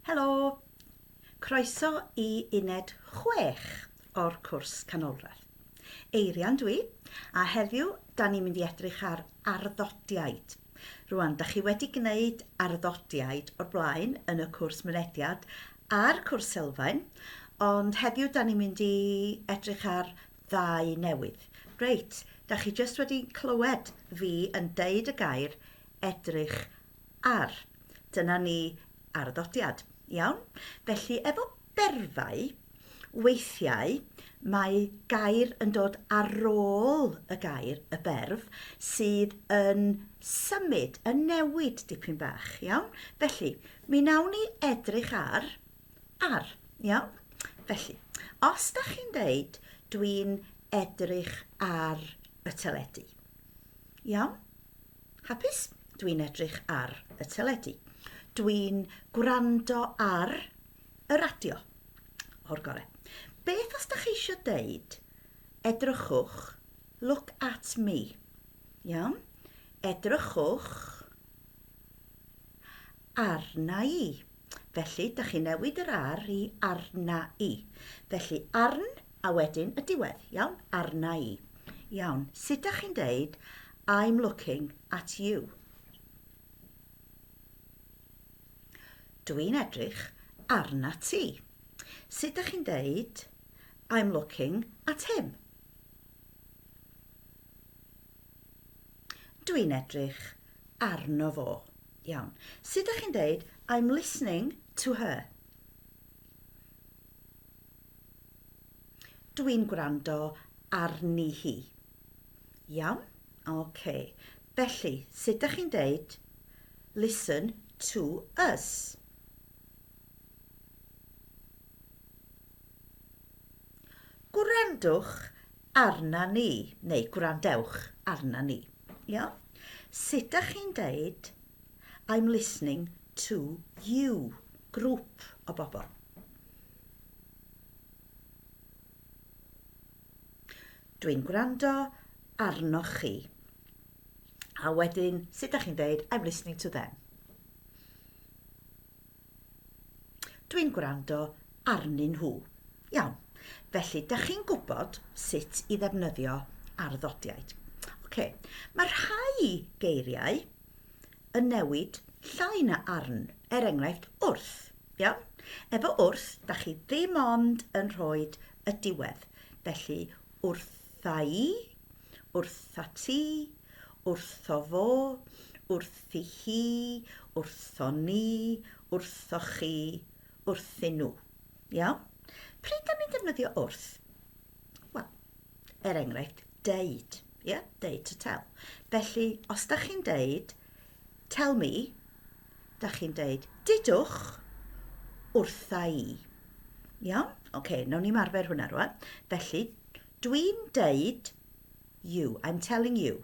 Helo! Croeso i uned 6 o'r cwrs canolradd. Eirian dwi, a heddiw da ni'n mynd i edrych ar arddodiaid. Rwan, da chi wedi gwneud arddodiaid o'r blaen yn y cwrs mynediad a'r cwrs sylfaen, ond heddiw da ni'n mynd i edrych ar ddau newydd. Reit, da chi jyst wedi clywed fi yn deud y gair edrych ar. Dyna ni arddodiad. Iawn? Felly, efo Byrddau, weithiau mae gair yn dod ar ôl y gair, y berf, sydd yn symud, yn newid dipyn bach, iawn? Felly, mi nawn ni edrych ar, ar, iawn? Felly, os da chi'n deud, dwi'n edrych ar y teledu. Iawn? Hapus? Dwi'n edrych ar y teledu. Dwi'n gwrando ar y radio o'r gore. Beth os da chi eisiau deud, edrychwch, look at me. Iawn? Edrychwch arna i. Felly, da chi newid yr ar i arna i. Felly, arn a wedyn y diwedd. Iawn? Arna i. Iawn. Sut da chi'n deud, I'm looking at you. Dwi'n edrych arna ti. Sut dych chi'n deud I'm looking at him? Dwi'n edrych arno fo. Iawn. Sut dych chi'n deud I'm listening to her? Dwi'n gwrando arni hi. Iawn? OK. Felly, sut dach chi'n deud listen to us? Gwrandwch arna ni, neu gwrandewch arna ni. Iawn? Sut dach chi'n deud I'm listening to you, grŵp o bobl. Dwi'n gwrando arnoch chi. A wedyn, sut da chi'n dweud, I'm listening to them. Dwi'n gwrando arnyn nhw. Iawn. Felly, da chi'n gwybod sut i ddefnyddio arddodiaid. Okay. Mae rhai geiriau yn newid llai na arn, er enghraifft wrth. Iawn? Efo wrth, da chi ddim ond yn rhoi y diwedd. Felly, wrtha'i, wrthati, wrtho fo, wrthi hi, wrtho ni, wrtho chi, wrthyn nhw. Iawn? Pryd da ni'n defnyddio wrth? Wel, er enghraifft, deud. Ie? Yeah? Deud to tell. Felly, os da chi'n deud, Tell me, da chi'n deud, didwch wrtha i. Iawn? Oce, okay, nawn ni'n arfer hwnna rwan. Felly, dwi'n deud you, I'm telling you.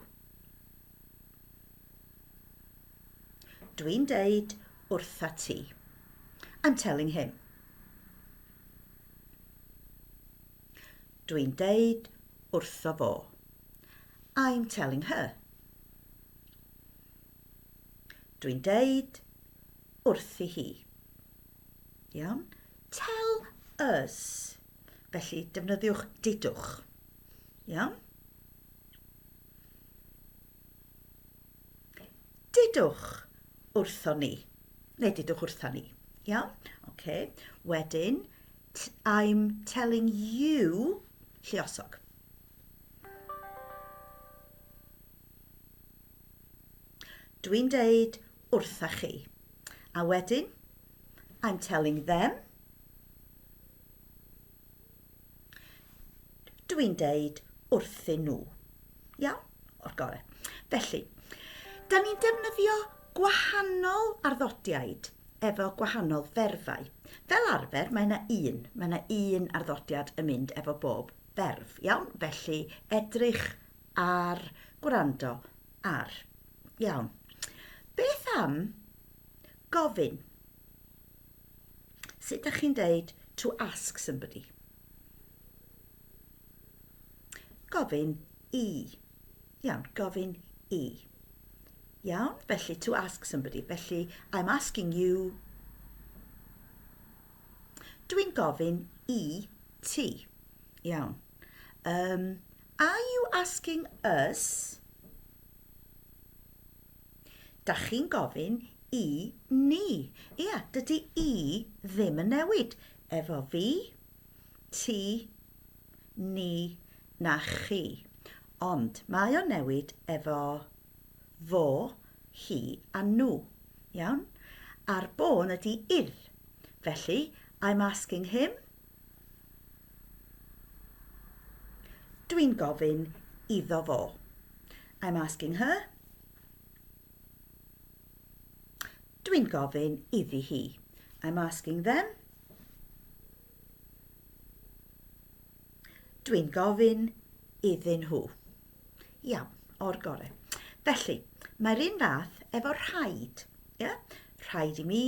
Dwi'n deud wrtha ti. I'm telling him. Dwi'n deud wrtho fo. I'm telling her. Dwi'n deud wrthi hi. Iawn? Tell us. Felly, defnyddiwch didwch. Iawn? Didwch wrthon ni. Neu didwch wrthon ni. Iawn? Okay. Wedyn, I'm telling you lliosog. Dwi'n deud wrtha chi. A wedyn, I'm telling them. Dwi'n deud wrthyn nhw. Iawn? O'r gorau. Felly, da ni'n defnyddio gwahanol arddodiaid efo gwahanol ferfau. Fel arfer, mae yna un. Mae yna un arddodiad yn mynd efo bob ferf. Iawn? Felly, edrych Ar, gwrando, ar. Iawn. Beth am gofyn? Sut ydych chi'n deud to ask somebody? Gofyn i. Iawn, gofyn i. Iawn, felly to ask somebody. Felly, I'm asking you. Dwi'n gofyn i ti. Iawn. Um, Are you asking us? Da chi'n gofyn i ni. Ia, dydy i ddim yn newid. Efo fi, ti, ni, na chi. Ond mae o'n newid efo fo, hi a nhw. Iawn? A'r bôn ydy idd. Felly, I'm asking him. Dwi'n gofyn iddo fo. I'm asking her. Dwi'n gofyn iddi hi. I'm asking them. Dwi'n gofyn iddyn nhw. Iawn, o'r gore. Felly, mae'r un fath efo rhaid. Ie? Rhaid i mi,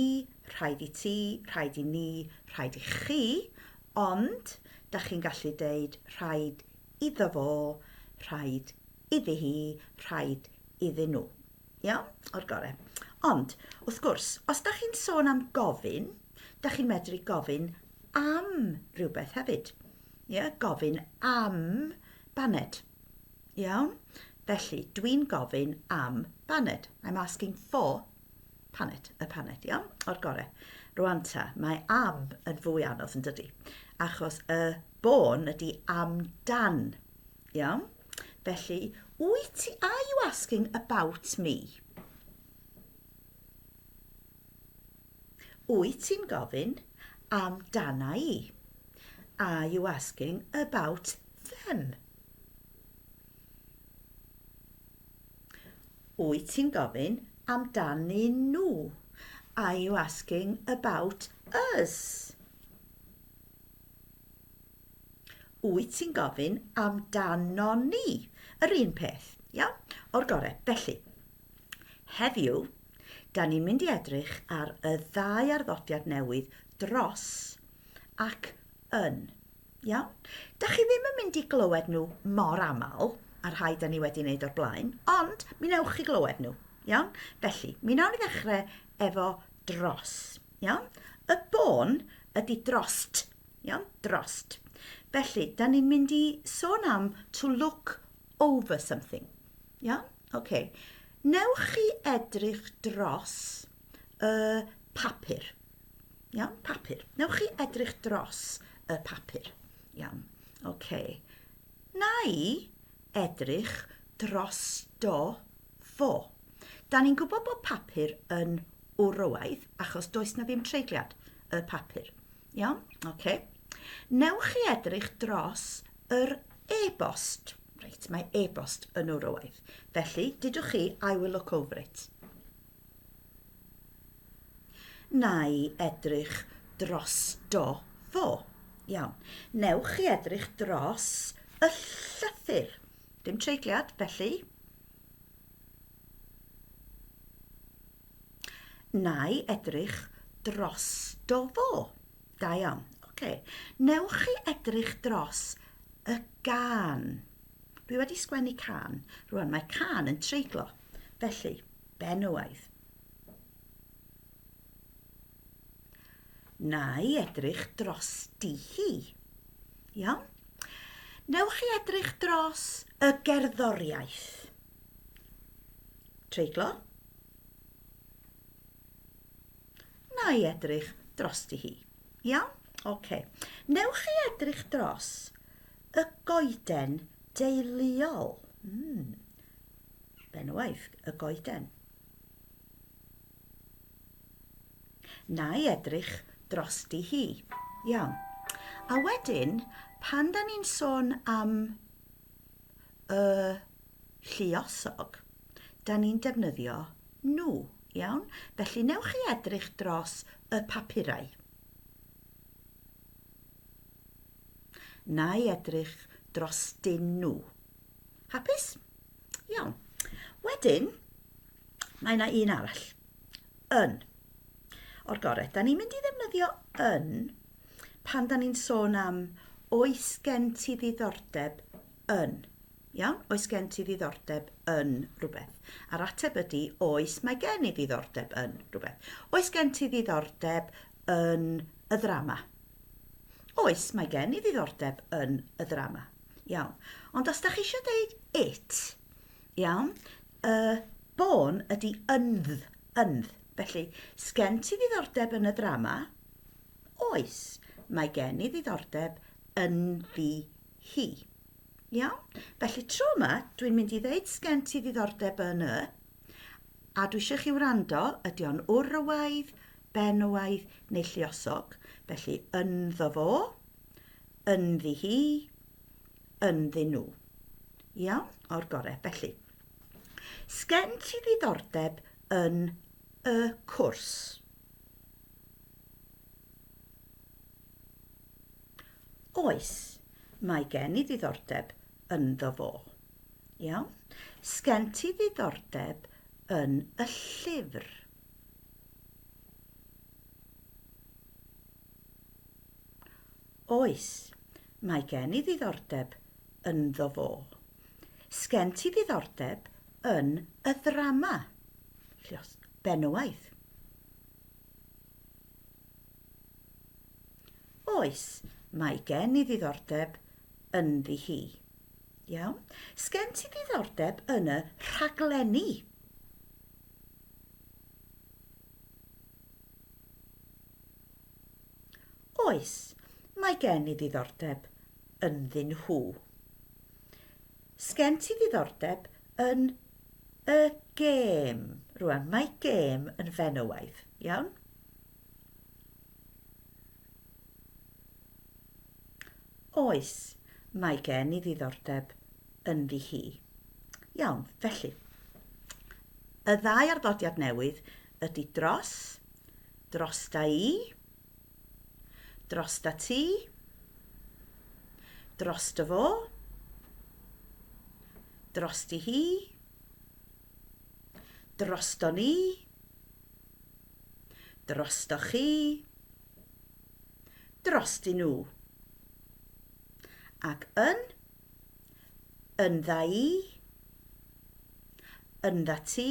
rhaid i ti, rhaid i ni, rhaid i chi, ond da chi'n gallu deud rhaid iddo fo, rhaid iddi hi, rhaid iddyn nhw. Iawn? O'r gore. Ond, wrth gwrs, os da chi'n sôn am gofyn, da chi'n medru gofyn am rhywbeth hefyd. Ie, gofyn am baned. Iawn? Felly, dwi'n gofyn am baned. I'm asking for paned, y paned, iawn? O'r gorau. Rwan ta, mae am yn fwy anodd yn dydy, achos y bôn ydy am dan, iawn? Felly, wyt ti, are you asking about me? Wyt ti'n gofyn am dana i? Are you asking about them? Wyt ti'n gofyn am dan ni nhw? Are you asking about us? Wyt ti'n gofyn am dan non ni? Yr un peth, iawn? O'r gorau. Felly, Heddiw, da ni'n mynd i edrych ar y ddau arddodiad newydd dros ac yn. Iawn? Da chi ddim yn mynd i glywed nhw mor aml, a rhai da ni wedi wneud o'r blaen, ond mi newch chi glywed nhw. Iawn? Felly, mi nawn ni ddechrau efo dros. Iawn? Y bôn ydy drost. Iawn? Drost. Felly, da ni'n mynd i sôn am to look over something. Iawn? OK. Newch chi edrych dros y papur. Iawn? Papur. Newch chi edrych dros y papur. Iawn. OK. Na i edrych dros do fo. Da ni'n gwybod bod papur yn wrywaidd achos does na ddim treigliad y papur. Iawn? Oce. Newch chi edrych dros yr e-bost. Reit, mae e-bost yn Eurowaith. Felly, dydwch chi, I will look over it. Na i edrych dros do fo. Iawn. Newch chi edrych dros y llythyr. Dim treigliad, felly. Nai edrych dros do fo. Da iawn. Oce. Newch chi edrych dros y gan. Dwi wedi sgwennu can. Rwan mae can yn treiglo. Felly, benywaidd. Nai edrych dros di hi. Iawn? Newch chi edrych dros y gerddoriaeth. Treiglo. Na i edrych dros di hi. Iawn? Oce. Okay. Newch chi edrych dros y goeden deiliol. Mm. Benwaith, y goeden. Na i edrych dros di hi. Iawn. A wedyn, pan da ni'n sôn am y lluosog, da ni'n defnyddio nhw, iawn? Felly newch chi edrych dros y papurau. Na i edrych dros dyn nhw. Hapus? Iawn. Wedyn, mae yna un arall. Yn. O'r gorau. Da ni'n mynd i ddefnyddio yn pan da ni'n sôn am oes gen ti ddiddordeb yn. Iawn? Oes gen ti ddiddordeb yn rhywbeth? A'r ateb ydy, oes, mae gen i ddiddordeb yn rhywbeth. Oes gen ti ddiddordeb yn y ddrama? Oes, mae gen i ddiddordeb yn y ddrama. Iawn. Ond os da chi eisiau deud it, iawn, y bôn ydy ynddd, ynddd. Felly, sgen ti ddiddordeb yn y ddrama? Oes, mae gen i ddiddordeb ynddi hi. Iawn? Felly tro yma, dwi'n mynd i ddeud sgen ti ddiddordeb yn y, a dwi eisiau chi wrando, ydy o'n wrywaidd, benywaidd neu lliosog. Felly ynddo fo, ynddi hi, ynddi nhw. Iawn? O'r gorau. Felly, sgen ti ddiddordeb yn y cwrs? Oes, mae gen i ddiddordeb ynddo fo. Iawn? Sgen ti ddiddordeb yn y llyfr? Oes, mae gen i ddiddordeb ynddo fo. Sgen ti ddiddordeb yn y ddrama? Felly os Benywaidd. Oes, mae gen i ddiddordeb ynddi hi. Iawn. Sgen ti ddiddordeb yn y rhaglenni? Oes, mae gen i ddiddordeb ynddyn nhw. Sgen ti ddiddordeb yn y gêm? Rwan, mae gêm yn fenywaidd, iawn? Oes, mae gen i ddiddordeb ynddi hi. Iawn, felly, y ddau arddodiad newydd ydy dros, dros da i, Dros da ti. Dros dy fo. Dros di hi. Dros do ni. Dros do chi. Dros di nhw. Ac yn yn dda i, yn dda ti,